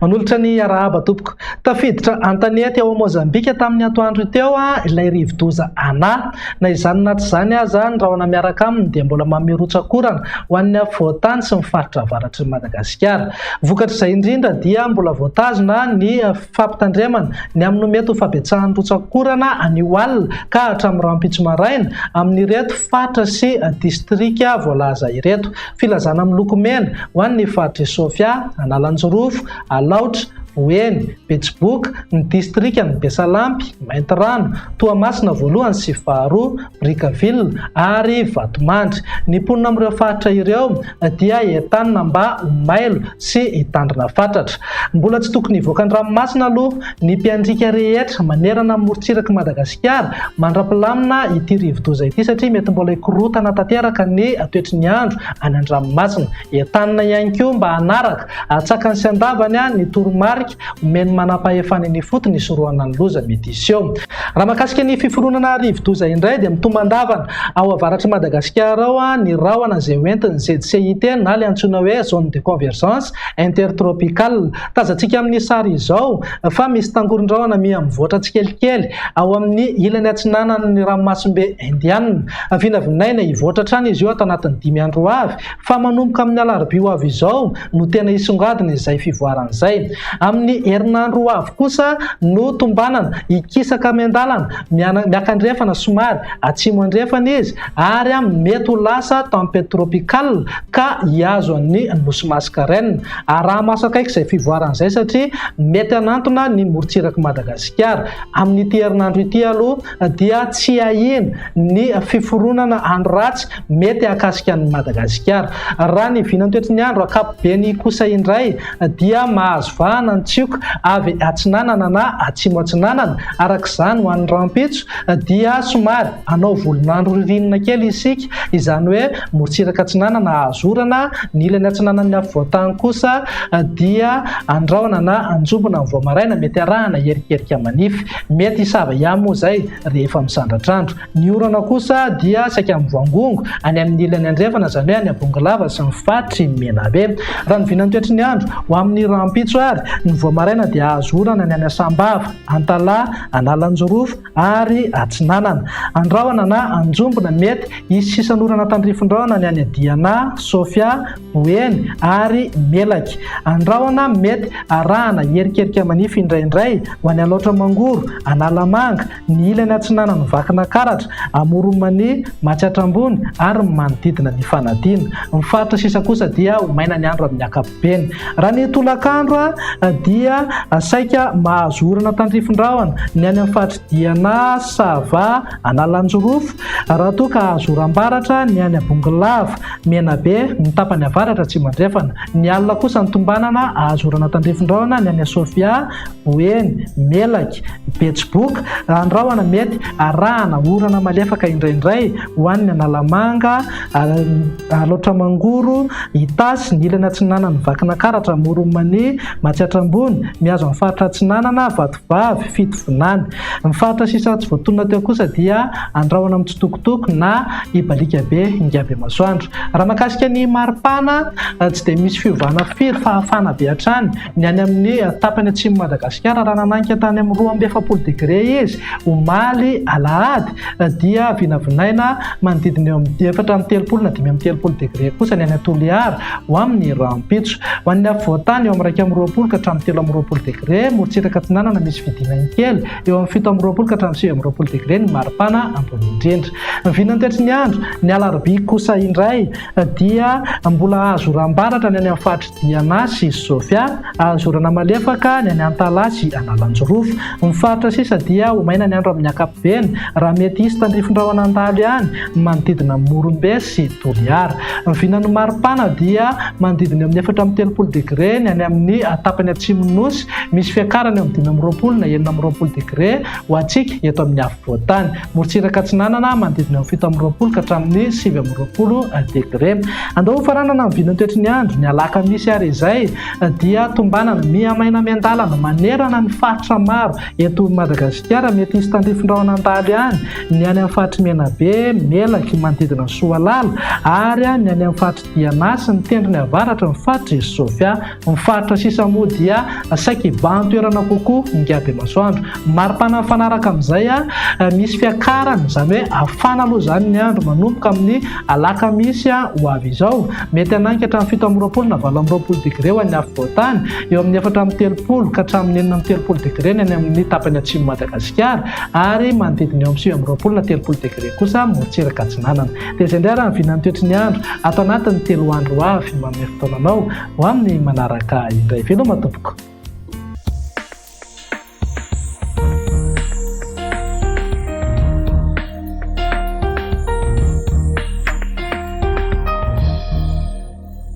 Manolotra ny arahaba tompoko. Tafiditra an-tanety ao Mozambika tamin'ny atoandro teo ilay rivodoza Ana. Na izany na tsy izany aza, ny rahona miaraka aminy dia mbola mamehy rotsak'orana ho an'ny afovoan-tany sy ny faritra avaratr'i Madagasikara. Vokatr'izay indrindra dia mbola voatazona ny Fampitandremana, Ny amin'ny mety ho fahabetsahan'ny rotsak'orana anio alina ka hatramin'ny rahampitso maraina, amin'ireto faritra sy distrika voalaza ireto. Filazana miloko mena, ho an'ny faritr'i Sofia, Analanjirofo, Alaotra, Boeny, Betsiboka, ny distrikan'i Besalampy, Maintirano, Toamasina voalohany sy faharoa, Brickaville ary Vatomandry. Ny mponina amin'ireo faritra ireo, dia entanina mba ho mailo sy hitandrina fatratra. Mbola tsy tokony hivoaka an-dranomasina aloha ny mpiandriaka rehetra manerana ny morontsirak'i Madagasikara mandra-pilamina ity rivodoza ity satria mety mbola hikorotana tanteraka ny toetry ny andro any an-dranomasina. Entanina ihany koa mba hanaraka atsakany sy andavany ny toromarika Omen'ny manampahefana eny ifotony hisorohana ny loza mety hiseho. Raha mahakasika ny fiforonana rivodoza indray dia mitombandavana ao avaratr'i Madagasikara ao ny rahona izay hoentin'ny ZCIT na ilay antsoina hoe Zone de Convergence Intertropicale. Tazantsika amin'ny sary izao fa misy tangoron-drahona miha mivoatra tsikelikely ao amin'ny ilany atsinanan'ny ranomasimbe Indianina. Vinavinaina hivoatra hatrany izy io ato anatin'ny dimy andro ho avy. fa manomboka amin'ny alarobia ho avy izao no tena hisongadina izay fivoarana izay. Amin'ny herinandro ho avy kosa no tombanana hikisaka miandalana miakandrefana somary atsimo andrefana izy ary mety ho lasa tempête tropicale ka hihazo an'ny Nosy Mascareignes. Araha-maso akaiky izay fivoarana izay satria mety hanantona ny morontsirak'i Madagasikara. Amin'ity herinandro ity aloha dia tsy ahiana ny fiforonana andro ratsy mety hahakasika an'i Madagasikara. Raha ny vinantoetry ny andro ankapobeny kosa indray dia mahazo vahana ny tsioka avy atsinanana na atsimo-atsinanana. Araka izany, ho an'ny rahampitso dia somary hanao volon'andro ririnina kely isika, izany hoe morontsiraka atsinanana hahazo orana, ny ilany atsinanan'ny afovoantany kosa dia andrahona na anjombona amin'ny vao maraina, mety arahana herikerika manify. Mety hisava ihany moa izay rehefa misandratr'andro. Ny orana kosa dia saika mivangongo any amin'ny ilany andrefana, izany hoe any Abongolava sy ny faritry Menabe. Raha ny vinan'ny toetry ny andro, ho amin'ny rahampitso ary, ny vao maraina dia hahazo orana ny any Asambava, Antalaha, Analanjirofo ary Atsinanana. Andrahona na Anjombona, mety hisy sisan'orana tandrifindrahona ny any Diana, Sofia, Ho eny ary melaky. Andrahona mety arahana hierikerika manify indraindray ho any Alaotra Mangoro, Analamanga, ny ilany atsinanan'i Vakinakaratra, Amoronmani, Matsiatra Ambony ary ny manodidina ny fanadina. Ny faritra sisa kosa dia ho maina ny andro amin'ny ankapobeny. Raha ny tolakandro dia saika mahazo orana tandrifin-drahona ny any amin'ny faritry Diana, Sava, Analanjirofo, raha toa ka hahazo oram-baratra ny any Bongolava. Menabe, ny tapany avaratra atsimo-andrefana. Ny alina kosa ny tombanana ahazoana tandrifin-drahona ny any Asofia, Boeny, Melaky, Betsiboka, raha ny rahona mety arahana orana malefaka indraindray ho any Analamanga, Alaotra-Mangoro, Itasy, ny ilany atsinanan'ny Vakinankaratra, Amoron'i Mania, Matsiatra Ambony, mihazo an'ny faritra atsinanana, Vatofotsy, vavy, fito vinany. Ny faritra sisa tsy voatonona teo kosa dia andrahona mitsitokotoko na ibaliaka be ingabemasoandro. Raha mahakasika ny maripana, tsy dia misy fiovana firy fa hafana be hatrany. Ny any amin'ny tapany atsimon'i Madagasikara, raha nananika tany amin'ny roa amby efapolo degre izy omaly alahady, dia vinavinaina manodidina eo amin'ny efatra amby telopolo na dimy amby telopolo degre kosa ny any Toliara. Ho amin' ny rahampitso. Ho an'ny afovoan-tany, eo amin'ny iraika amby roapolo ka hatramin'ny telo amby roapolo degre, morontsiraka atsinanana misy fidinany kely, eo amin'ny fito amby roapolo ka hatramin'ny sivy amby roapolo degre ny maripana ambony indrindra. Ny vinany taitry ny andro, ny alarobia kosa indray, dia mbola hahazoram-baratra ny any amin'ny faritry Diana sy Sofia, hahazorana malefaka ny any Antalaha sy Analanjirofo. Ny faritra sisa dia ho maina ny andro amin'ny ankapobeny, raha mety hisy tandrifin-drahona handalo ihany, ny manodidina an'i Morombe sy Toliara. Ny vinan'ny maripana dia manodidina eo amin'ny efatra amby telopolo degre ny any amin'ny tapany atsimon'ny Nosy, misy fiakarana eo amin'ny dimy amby roapolo na enina amby roapolo degre ho antsika eto amin'ny afovoan-tany. Morontsiraka Atsinanana, manodidina eo amin'ny fito amby roapolo ka hatramin'ny sivy amby roapolo degre. Andao hofaranana ny vinan'ny toetry ny andro, ny alakamisy ary izay dia tombanana miha maina miandalana manerana ny faritra maro. Eto Madagasikara, mety hisy tandrifin-drahona an-daly ihany ny any amin'ny faritr'i Menabe, Melaky, manodidina an'i Soalala, ary ny any amin'ny faritr'i Diana sy ny tendrony avaratry ny faritr'i Sofia. Ny faritra sisa moa dia saika hibahan-toerana kokoa ny ngadiamasoandro. Mari-pana mifanaraka amin'izay, misy fiakarany, izany hoe hafana aloha izany ny andro manomboka amin'ny alakamisy ho avy izao. Mety hanangy hatramin'ny fito amby roapolo na valo amby roapolo degre ho an'ny afovoan-tany. eo amin'ny efatra amby telopolo ka hatramin'ny enina amby telopolo degre ny any amin'ny tapany atsimon'i Madagasikara ary manodidina eo amin'ny sivy amby roapolo na telopolo degre kosa morontsiraka atsinanana. Dia izay indray raha ny vinan'ny toetry ny andro ato anatin'ny telo andro ho avy manome fotoana anao ho amin'ny manaraka indray. Veloma tompoko.